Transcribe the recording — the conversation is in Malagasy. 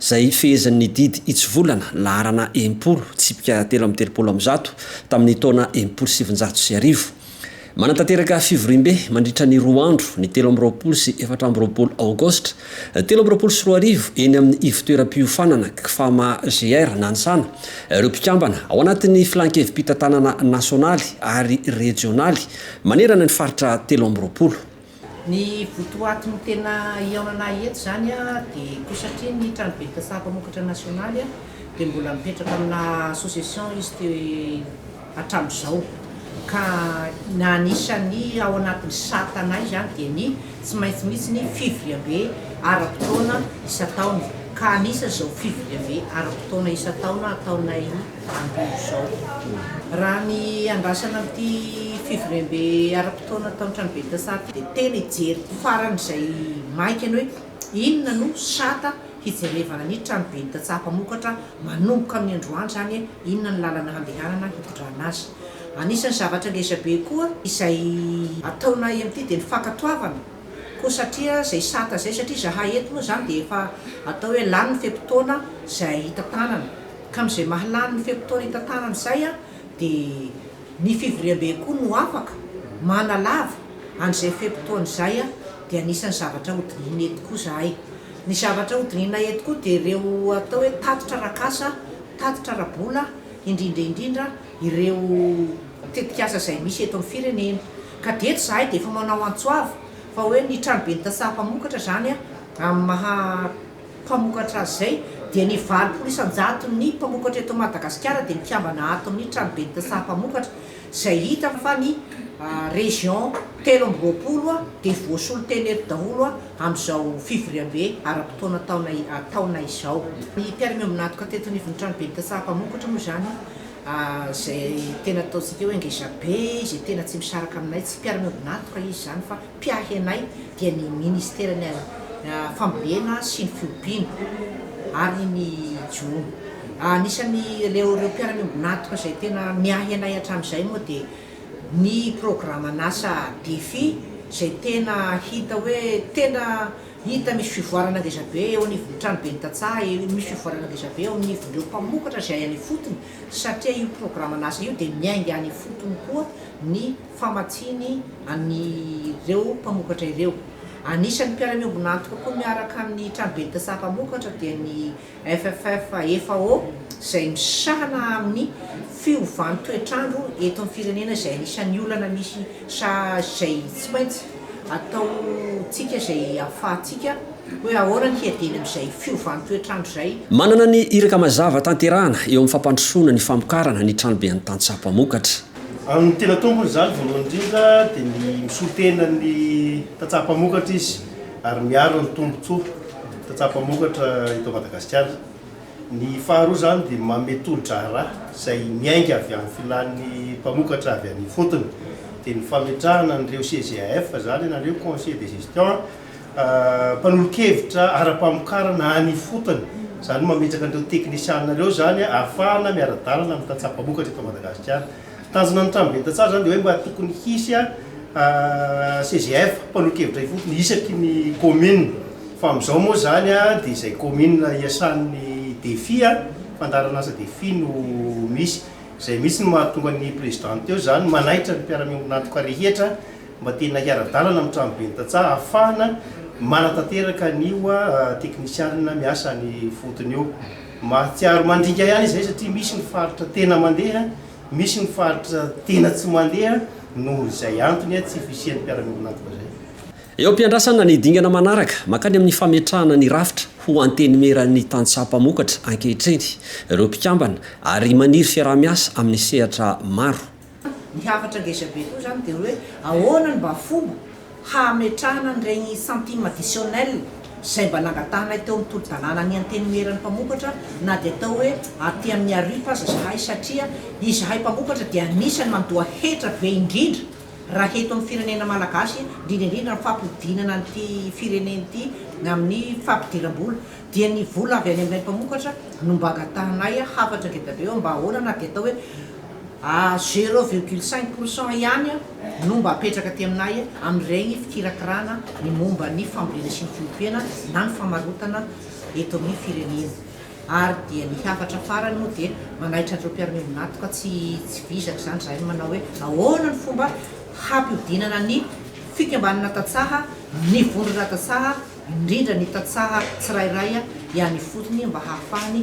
izay hifehezin'ny didy hitsivolana laharana enim-polo, tsipika telo amby telopolo amin'ny zato, tamin'ny taona enimpolo sy sivinjato sy arivo. Manatanteraka fivoriambe mandritra ny roa andro, ny telo amby roapolo sy efatra amby roapolo Aogositra telo amby roapolo sy roa arivo, eny amin'ny ivotoeram-piofanana Cfama GR Nansana, ireo mpikambana, ao anatin'ny Filan-kevi-pitantanana nasionaly ary rejionaly, manerana ny faritra telo amby roapolo. Ny votoaty ny tena hihaonana ahy eto izany dia koa satria ny tranoben'ny tantsaha mpamokatra nasionaly dia mbola mipetraka amina association izy teo hatramin'izao ka ny anisan'ny ao anatin'ny satanay izany dia ny tsy maintsy misy ny fivoriambe ara-potoana isan-taona ka anisan'izao fivoriambe ara-potoana isan-taona ataonay amin'izao. Raha ny andrasana amin'ity fivoriambe ara-potoana tao an-tranoben'ny Tsaha ity dia tena hijery faran'izay maika ny hoe inona no sata hijerevana ny tranoben'ny Tantsaha mpamokatra manomboka amin'ny androany izany hoe inona ny lalana handehanana hitondrana azy. Anisan'ny zavatra ngezabe koa izay ataonay amin'ity dia ny fankatoavana koa satria izay sata izay satria izahay eto moa izany dia efa atao hoe lany ny fe-potoana izay hitantanana. Ka amin'izay maha lany ny fe-potoana itantanana izay dia ny fivoriambe koa no afaka manalava an'izay fe-potoana izay dia anisan'ny zavatra hodinihina eto koa izahay. Ny zavatra hodinihina eto koa dia ireo atao hoe tatitra ara-kasa, tatitra ara-bola, indrindra indrindra ireo tetikasa izay misy eto amin'ny firenena. Ka dia eto izahay dia efa manao antso avo fa hoe ny tranoben'ny tantsaha mpamokatra izany amin'ny maha. mpamokatra azy izay dia ny valopolo isan-jaton'ny mpamokatra eto Madagasikara dia mikambana ato amin'ny tranoben'ny saha mpamokatra izay hita fa ny région telo amby roapolo dia voasolo teny eto daholo amin'izao fivoriambe ara-potoana taona izao. Ny mpiara-miombon'antoka teto anivon'ny tranoben'ny saha mpamokatra moa izany izay tena ataontsika hoe ngezabe izay tena tsy misaraka aminay, tsy mpiara-miombon'antoka izy izany fa. mpiahy anay dia ny Ministeran'ny Fambolena sy ny Fiompiana ary ny Jono. Anisan'ny ireo ireo mpiara-miombon'antoka izay tena miahy anay hatramin'izay moa dia ny programan'asa Defi izay tena hita hoe tena hita misy fivoarana ngeza be eo anivon'ny tranoben'ny tantsaha, misy fivoarana ngeza be eo anivon'ireo mpamokatra izay any ifotony satria io programan'asa io dia miainga any ifotony koa ny famatsiany an'ireo mpamokatra ireo. Anisan'ny mpiara-miombon'antoka koa miaraka amin'ny tranoben'ta saha mpamokatra dia ny FFFAO izay misahana amin'ny fiovan'ny toetr'andro eto amin'ny firenena izay anisan'ny olana misy saha izay tsy maintsy ataontsika izay ahafahantsika hoe ahoana ny hiadiany amin'izay fiovan'ny toetr'andro izay. Manana ny iraka mazava tanterahana eo amin'ny fampandrosoana ny famokarana ny tranoben'ny tantsaha mpamokatra. Amin'ny tena tompony izany, voalohany indrindra, dia ny misolo tena ny tantsaha mpamokatra izy ary miaro ny tombontsoa tantsaha mpamokatra eto Madagasikara. Ny faharoa izany dia manome tolo-draharaha izay miainga avy amin'ny filàn'ny mpamokatra avy any ifotony, dia ny fametrahana an'ireo CGAF izany ianareo, Conseil de Gestion, Mpanolon-kevitra ara-pamokarana any ifotony, izany hoe mametraka an'ireo teknisianina ireo izany ahafahana miara-dalana amin'ny tantsaha mpamokatra eto Madagasikara. Tanjona ny tranoben'ny tantsaha izany dia hoe mba tokony hisy CGF, mpanolon-kevitra ifotony, isaky ny commune. Fa amin'izao moa izany dia izay commune iasan'ny Defi, fandaharan'asa Defi, no misy. Izay mihitsy no mahatonga ny presidente eo izany manaitra ny mpiara-miombon'antoka rehetra. mba tena hiara-dalana amin'ny tranoben'ny tantsaha hahafahana manatanteraka an'io teknisianina miasa any ifotony io. Mahatsiaro mandringa ihany izay satria misy ny faritra tena mandeha, misy ny faritra tena tsy mandeha noho izay antony tsy fisian'ny mpiara-miombona antoka izay. Eo am-piandrasana ny dingana manaraka mankany amin'ny fametrahana ny rafitra ho Antenimieran'ny tantsaha mpamokatra ankehitriny ireo mpikambana ary maniry fiaraha-miasa amin'ny sehatra maro. Ny hafatra ngeza be koa izany dia hoe ahoana no mba fomba hametrahana an'ireny centime additionnel izay mba nangatahanay teo amin'ny tolo-dalàna ny Antenimieran'ny mpamokatra na dia atao hoe aty Miarifa aza izahay satria izahay mpamokatra dia anisan'ny mandoa hetra be indrindra raha eto amin'ny firenena malagasy indrindra indrindra amin'ny fampodianana an'ity firenena ity amin'ny fampidiram-bola dia ny vola avy any aminay mpamokatra no mba angatahanay hafatra ngeda be hoe mba ahoana na dia atao hoe A zero virgule cinq pour cent ihany no mba apetraka aty aminay amin'ireny fikirakirana ny momba ny fambolena sy ny fiompiana na ny famarotana eto amin'ny firenena ary dia ny hafatra farany moa dia manaitra an'ireo mpiara-miombon'antoka tsy tsy vizaka izany izahay no manao hoe ahoana ny fomba hampihodinana ny fikambanana tantsaha ny vondrona tantsaha indrindra ny tantsaha tsirairay ihany ifotony mba hahafahany